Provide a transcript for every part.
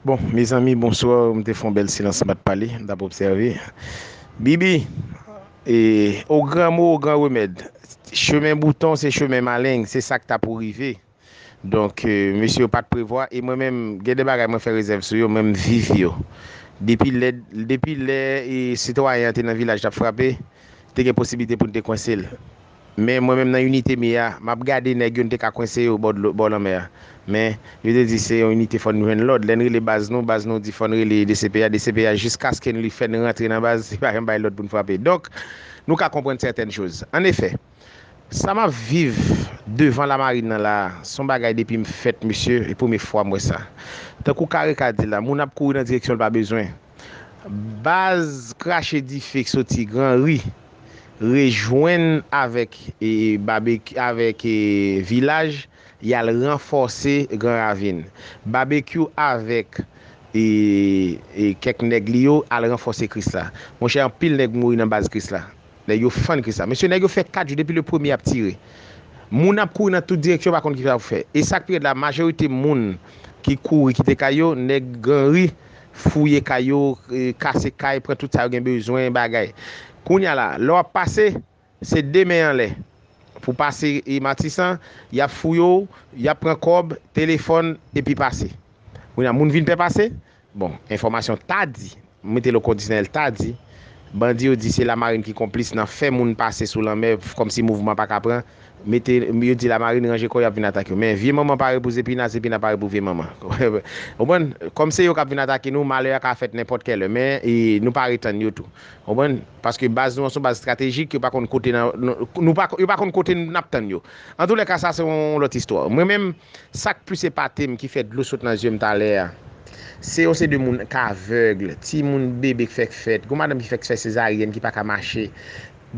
Bon mezanmi bonsoir m te fon bèl silans m pat pale m tap obsève Bibi o gran mo o gran remèd chemen bouton se chemen maleng se sak ta pou rive donk mesye yo pat prevwa e mwen menm gen de bagay mwen fè rezèv sou yo men m viv yo depi lè depi lè sitwayen an te nan vilaj tap frape te gen posiblite pou n te kwense l. Men mwen menm nan inite mi a, m ap gade nèg yo n te ka kwense yo bò dlo, bò lanmè a. Men, yo te di se yon inite fò n jwenn lòd. Lè n rele baz nou, baz nou di fò n rele dcpj, dcpj jiskaske n li fè n rantre nan baz, li pa janm bay lòd pou n frape. Donk, nou ka konprann sètèn choz. An efè, sa m ap viv devan lamarin nan la a, s on bagay depi m fèt mesye, e premye fwa m wè sa. Tankou Kareka di la, moun ap kouri nan direksyon l pa bezwen. Baz krache dife k soti gran ri rejwenn avèk Babekyou avèk Vilaj yal ranfòse gran ravin. Babekyou avèk kèk nèg li yo al ranfòse Krisla. Monchè anpil nèg mouri nan baz Krisla. Nèg yo fann kris la. Mesye nèg yo fè 4 jou depi le premye ap tire. Moun ap kouri nan tout direksyon yo pa konn kisa pou fè. E sak pi rèd la majorite moun ki kouri kite kay yo nèg granri fouye kay yo kase kay pran tout sa yo gen bezwen bagay. Kounya la lè wap pase se 2 men anlè pou pase matisan yap fouye w yap pran kòb telefòn epi pase. Kounya moun vin pè pase Bon, enfòmasyon ta di, m mete l o kondisyonèl ta di, bandi yo di se Lamarin ki konplis nan fè moun pase sou lanmè kòmsi mouvman pa ka pran, mete, yo di Lamarin ranje kò y ap vin atake yo. Men, vye manman pare pou zepina, zepina pare pou vye manman. Ou konprann? Kòm se yo k ap vin atake nou, malè a ka fèt nenpòt kèlè men, nou pare tann yo tou. Ou konprann? Paske baz nou an se yon baz estratejik, yo pa konn kote nan, nou pa, yo pa konn kote n ap tann yo. Antoulèka sa se yon lòt istwa. Mwen menm, sa k plis epate m, ki fè dlo sot nan zye m talè a, se yon seri de moun k avèg, timoun, bebe k fèk fèt, yon madanm ki fèk fè sezaryèn ki pa ka mache.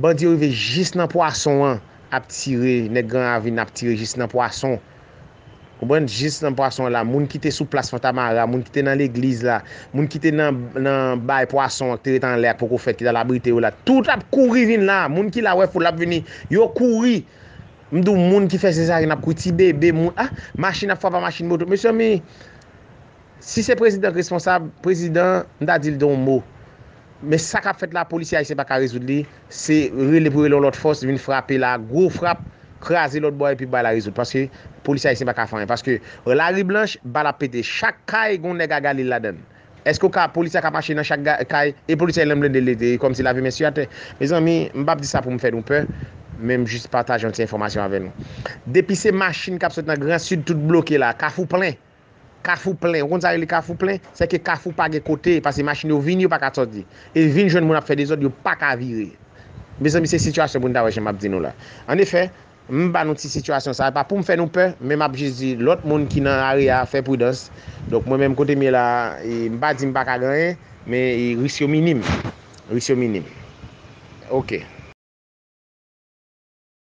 Bandi yo rive jis nan pwason an, ap tire, nèg Gran Ravin ap tire jis nan pwason. Konprann jis nan pwason la, moun ki te sou plas Fantamara, moun ki te nan legliz la, moun ki te nan bay pwason an ki te ret anlè a ki poko fèt ki t al abrite yo la, tout ap kouri vin la, moun ki la wè foul la ap vini, yo kouri, m di w moun ki fè sezaryen ap kouri, ti bebe, moun, ah, machin ap frape a machin moto, mezanmi! Si se prezidan k responsab, prezidan m ta dil don mo. Men sa kap fèt la polisye ayisyen paka rezoud li, se rele pou rele yon lòt fòs vin frape la gwo frap, kraze lòt bò a epi bay la rezoud paske polisye ayisyen paka fè anyen paske lari blanch bal ap pete chak kay gon nèg a galil ladann eske ou ka polisye a ka mache nan chak kay e polisye a lan blende li te kòmsi lavi men su atè mezanmi m pap di sa poum fè nou pè men m jis pataje yon ti enfòmasyon avè nou depi se machin kap sot nan gran sid tout bloke la kafou plen. Kafou plen, ou konn sa rele kafou plen? Se ke kafou pa gen kote, pase machin yo vini yo pa ka soti. E vin jwenn moun ap fè dezòd yo pa ka vire. Mezanmi se sitiyasyon pou n ta wè jan m ap di nou la. An efè, m ba nou ti sitiyasyon sa, pa pou m fè nou pè, men m ap jis di lòt moun ki nan are a fè pridans. Donk mwen menm kote m ye la, m pa di m pa ka gen anyen, men risk yo minim. Risk yo minim. Ok.